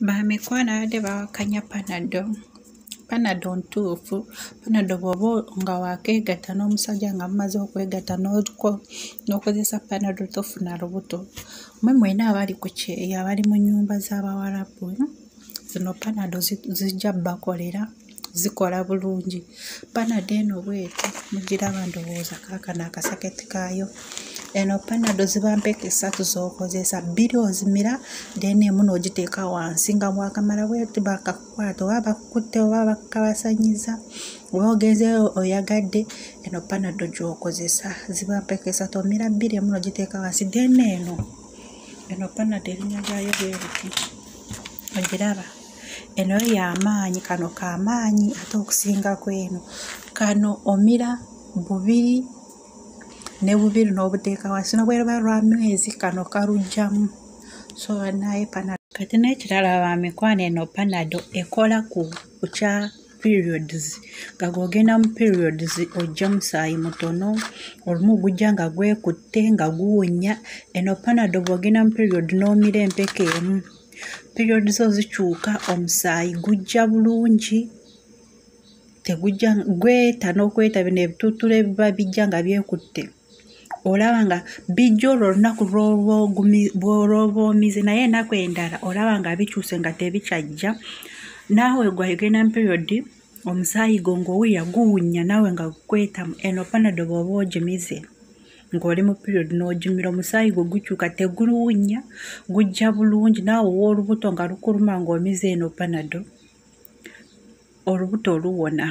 bamikwano abadde bawakanya panado panado ntuufu panado bwoba nga wakeegatta n'omusajja nga mumaze okwegatta n'okozesa panado tofuna lubuto mwe mwena abali ku kyeyo abali mu nyumba z'abawalabu zino panado zijja bakolera zi zikola bulungi panado eno bweti mugiraba ndowooza kaakano akasaketi kaayo eno panado ziba mpeke satu zokozesa bbiri ozimira then emu nogiteeka wansi nga mwakamala bweti bakakukwata oba bakukutte oba bakabasanyiza oba ogenzeyo oyagadde eno panado gyokozesa ziba mpeke satu omira bbiri emu nogiteeka wansi then eno eno panado erinya lyayo bweriti ogiraba eno yo yamaanyi kano kamaanyi ate okusinga kweno kano omira bubiri ne bubiri n'obuteeka wansi nobweraba lwa mwezi kano kalugjamu so naye pana kati n'ekirala ba mikwano eno panado ekola ku kya periods nga gwogenda mu periods ojja musaayi mutono olumu gujja nga gwekutte nga guwunya eno panado bwogenda mu period n'omira empeke emu period zo zikyuka omusaayi gujja bulungi tegujja gweta n'okweta bino ebituttula ebiba bijja nga byekutte olaba nga bijja olwo olunaku lwolwoba omize naye enaku endala olaba nga bikyuse nga tebikyajja naawe gwayogenda mu period omusaayi gwo ng'owulira guwunya naawe nga gukwetamu eno panado bwoba ogimize ng'oli mu period n'ogimira omusaayi gwe gukyuka teguluwunya gujja bulungi naawe owoolubuto nga lukuluma ng'omize eno panado olubuto oluwona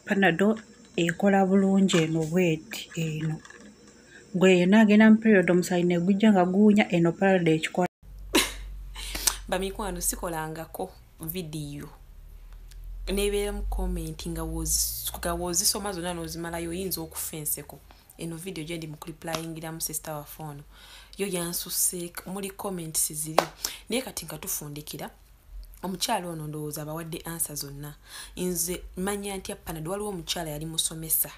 panado ekola bulungi eno bweti eno gwe yena agenda mu period omusayi negujja nga guwunya eno parade ekikola bamikwano sikolangako vidiyo nebeera mu komenti nga wozisoma zonna nozimalayo oyinza okufa enseko eno vidiyo gyendi mukuliplayingiramu sisita waffe ono yo yansusse muli comments ziri naye kati nga tufundikira omukyala ono ndowooza abawadde ansa zonna nze manya ntya panad waliwo omukyala yali musomesa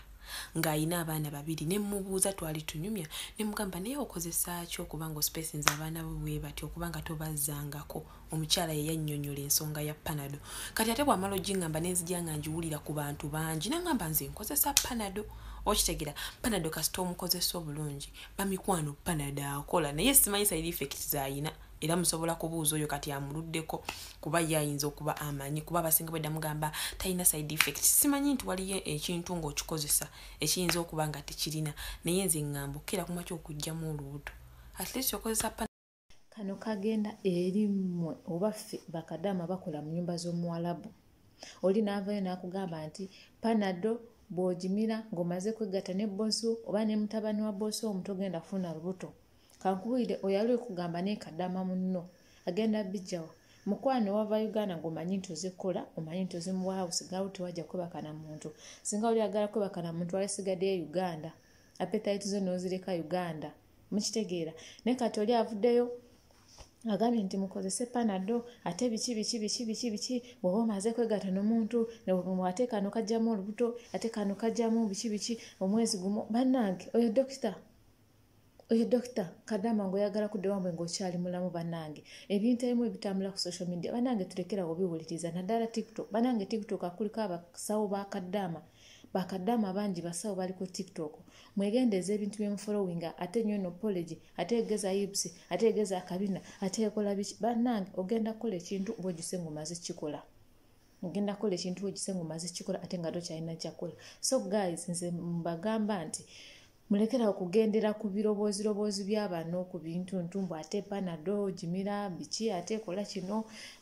ng'alina abaana babiri ne mmubuuza twali tunyumya ne mugamba naye okozesa ki okuba nga ospesinza abaana bo bwe bati okuba nga tobazzangako omukyala ye yannyonnyola ensonga ya panado kati ate bw'amala ogingamba ne nzija nga ngiwulira ku bantu bangi nangamba nze nkozesa panado okitegera panado kasita omukozesa obulungi bamikwano panado akola naye simanyi sayiri effekiti z'alina era musobola kubuuza oyo kati amuluddeko kuba ye ayinza okuba amanyi kuba abasinga bwedda mugamba talina side effect simanyi nti waliyo ekintu ng'okikozesa ekiyinza okuba nga tekirina naye nze ŋŋamba okukira kuma kyokugjamu olubuto at least okozesa kano kagenda eri mmwe oba ffe bakadaama bakola mu nyumba z'omuwalabu oli n'avayo n'akugamba nti panado bw'ogimira ng'omaze kwegatta ne bbosi oba ne mutabani wa bbosi omu togenda kufuna lubuto kankubuulire oyo ali okugamba naye kadama munno agenda bijjawa mukwano wava uganda ngaomanyi nti ozikola omanyi nti ozimuwaawo sigawo tewajja kwebaka na muntu singa oli agala kwebaka na muntu alisigadde e uganda apetayiti zo nozireka uganda mukitegeera naye kati oli avuddeyo agambye nti mukozese panado ate biki biki biki biki biki bwoba omaze kwegata nomuntu ate kano kajjamu olubuto ate kano kajjamu biki biki omwezi gumu bannange oyo dokita oyo dokita kadama nga oyagala kudde wambwe ngaokyali mulamu banange ebintu ebimu ebitambula ku social media banange tulekera obiwuliriza naddala tiktok banange tiktok akuliko abasawo ba kadama bakadama bangi basawo bali ku tiktok mwegendeeza ebintu byemufolowinga ate nyo no polegi ate egeza ibs ate egeza akabina ate ekola biki banange ogenda kukola ekintu bwojuse ngaomaze kikola ogenda kukola ekintu wekise nga omaze kikola ate nga tokyalina kyakola so guys nze mbagamba nti mulekera okugendera ku biroboozi roboozi byabano ku bintu ntumbu ate panado gimira biki ate kola kino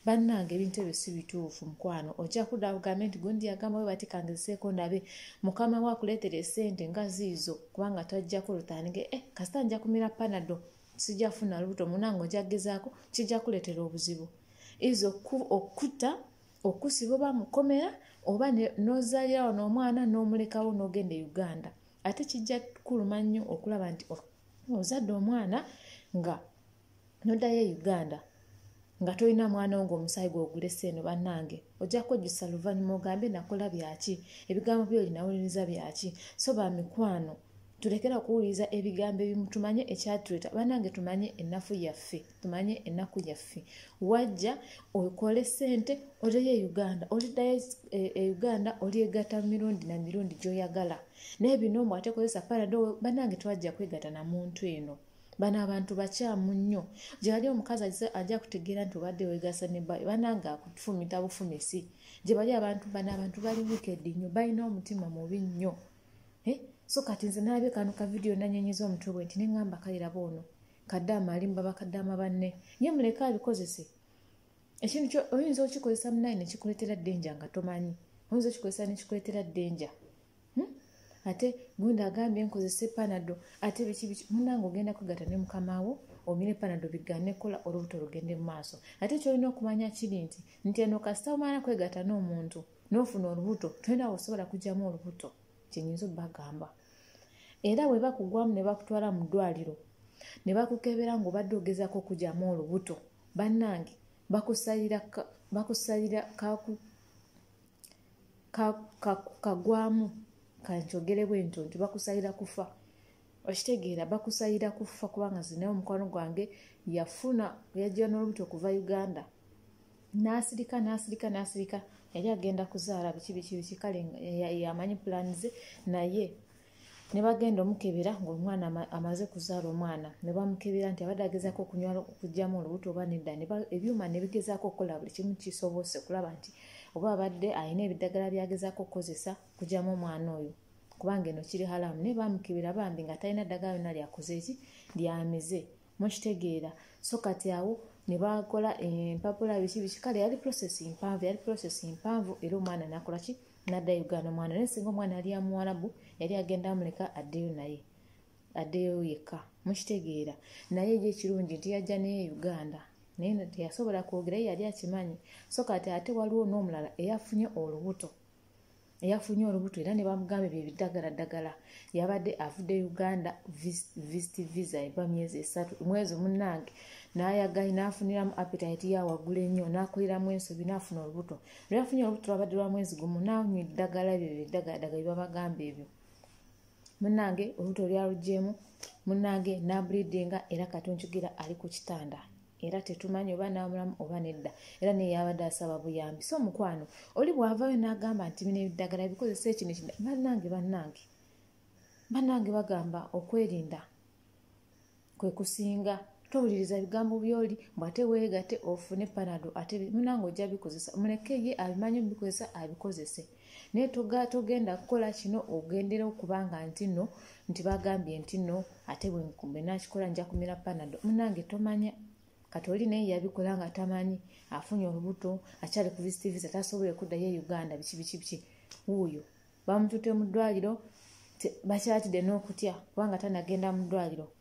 bannange ebintu ebyo si bituufu mukwano ojja kudda ugambe nti gundi yagamba we batikangezeseeko ndabe mukama we akuleetera esente nga ziizo kubanga twajjako lutandike eh, kasita nja kumira panado sijja funa lubuto munange ojja kugezaako kijja kuleetera obuzibu iza okukutta okusiba oba mukomera oba nozaalirawo n'omwana n'omulekawo n'ogenda e uganda ate kijja kuluma nnyo okulaba nti ozadde omwana nga nodayo e uganda nga tolina mwana wo ngaomusaayi gwogulese eno bannange ojja kwejjusa luvannyuma ogambe nakola byaki ebigambo byo linawuliriza byaki so ba mikwano tulekera okuwuliriza ebigambo ebimu tumanye ekyatuleeta bannange tumanye ennafu yaffe tumanye ennaku yaffe wajja okole sente oleyo e uganda olidayo e, e uganda olyegata mirundi na mirundi gyoyagala naye bino omu ate kozesa parado banange twajja kwegata na muntu eno bano abantu bakyamu nnyo gyebali omukazi ajja kutegeera nti obadde wegasa ne bayo banange akufumita bufumisi gyebali abantu bano abantu bali wikedi nnyo balina omutima mubi nnyo eh? so kati nze nalabye kano kavidiyo nanyenyeza omutwe bwe nti neŋamba kaliraba ono kadaama alimba bakadaama banne nye muleke abikozese ekintu oyinza okikozesa munaye nekikuletera denja nga tomanyi oyinza okikozesa nekikuletera denja hmm? ate gwenda agambye nkozese panado ate bikibiki munange ogenda kwegata ne mukamawo omire panado bigane kola olubuto lugende mu maaso ate kyolina okumanya kiri nti nti eno kasita omala kwegata n'omuntu nofuna olubuto tolinawo osobola kugyamu olubuto kyenyinza obagamba era bwe bakugwamu ne bakutwala mu ddwaliro ne bakukebera ng'obadde ogezaako okugyamu olubuto bannange bakusalira bakusalira kagwamu kankyogere bwe nto nti bakusalira kufa okitegeera bakusalira kufa kubanga zinaye omukwano gwange yafuna yajja n'olubuto okuva uganda n'asirika n'asirika n'asirika yali agenda kuzaala biki biki biki kale yamanyi pulaani ze naye ne bagenda omukebera ng'omwana amaze kuzaala omwana ne bamukebera nti abadde agezaako okunywa okugyamu olubuto oba nedda ebyuma ne bigezaako okukola buli kimu kisobose okulaba nti oba abadde alina ebiddagala byagezaako okukozesa okugyamu omwana oyo kubanga eno kiri halamu naye bamukebera bambi nga talina ddagala yona lyakoze eki lyamize mukitegeera so kati awo ne bakola empapula biki biki kale yali process mpanvu yali process mpanvu era omwana nakola ki nadda uganda omwana naye singa omwana yali amuwalabu yali agenda amuleka addeyo naye addeyo yekka mukitegeera naye eri ekirungi nti yajja naye uganda naye teyasobola kwogera ye yali akimanyi so kati ate waliwo n'omulala eyafunye olubuto eyafunye olubuto era ne bamugambye bye biddagala ddagala yabadde avudde uganda vist visa eva myezi esatu mwezi munnange n'ayagayi n'afuniramu apetayiti ya waggulu ennyo n'akoleramu ensobi n'afuna olubuto lweyafunye olubuto lwabadde lwa mwezi gumu n'anywa eddagala ebyo bye biddagala ddagala bye babagamba ebyo munnange olubuto lyalugyemu munnange n'abulidinga era kati onkigira ali ku kitanda era tetumanyi oba namulamu oba nedda era naye yabadde asaba buyambi so omukwano oli bwavayo nagamba nti bino ebiddagala bikozesa ekino kida bannange bannange bannange bagamba okwerinda kwe kusinga towuliriza bigambo byoli mbu ate weegate ofune panado ate munange ojja bikozesa muleke ye abimanyi omubikozesa abikozese naye togenda kukola kino ogendera okuba nga nti no nti bagambye nti no ate bwenakikola nja kumira panado munange tomanya kati oli naye yabikola nga tamanyi afunye olubuto akyali ku visit visa tasobole kuddayo e uganda biki biki biki wuuyo bamutute mu ddwaliro bakyatidde n'okutya kubanga tanagenda mu ddwaliro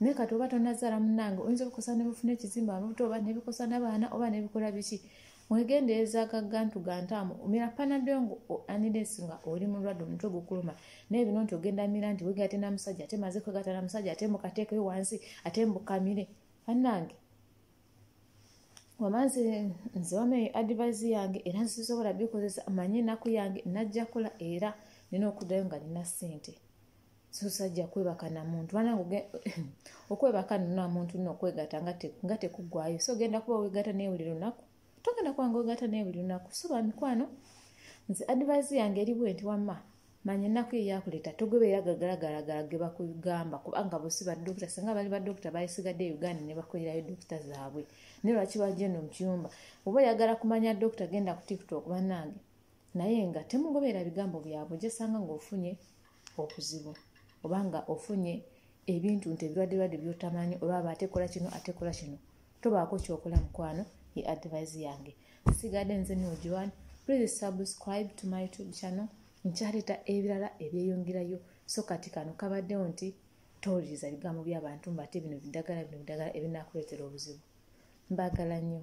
naye kati oba tonazaala munange oyinza obikosa nebufuna ekizimba amabuto oba nebikosa nabaana oba nebikola biki mwegendereza gagantu gantaamu omira panado ngo anides nga oli mulwadde omutwe gukuluma naye bino nti ogenda mira nti wega ate namusajja ate maze kwegata namusajja ate mukateekeyo wansi ate mbukamire banange wamanzi nze wama eyo advise yange era nsisobola bikozesa manye enaku yange najja kola era nina okudayo nga nina sente sosajja kwebaka namuntu banange okwebaka namuntu no okwegata nga tekugwayo so ogenda kuba wegata naye buli lunaku togenda kuba nga wegata naye buli lunaku so bamikwano nze advise yange eri bwe nti wamma manya ennaku ye yakuleeta togobeera gagalagalagala ge bakugamba kubanga bosi badokita singa bali badokita bayisigadde uganda ne bakolerayo dokita zaabwe naye lwaki bajeno mu kiyumba oba oyagala kumanya dokita genda ku tiktok banange naye nga temugobeera bigambo byabwe gyesanga ngaofunye obuzibu oba nga ofunye ebintu nti ebirwaddelwadde byotamanyi olwaba atekola kino atekola kino tobaako kyokola mukwano ye advise yange sigadde nze nojoan please subscribe to my youtube channel nkyaleeta ebirala ebyeyongerayo so kati kano kabaddewo nti towuliriza bigambo by'abantu mbaate bino biddagala bino biddagala ebinakuleetera obuzibu mbaagala nnyo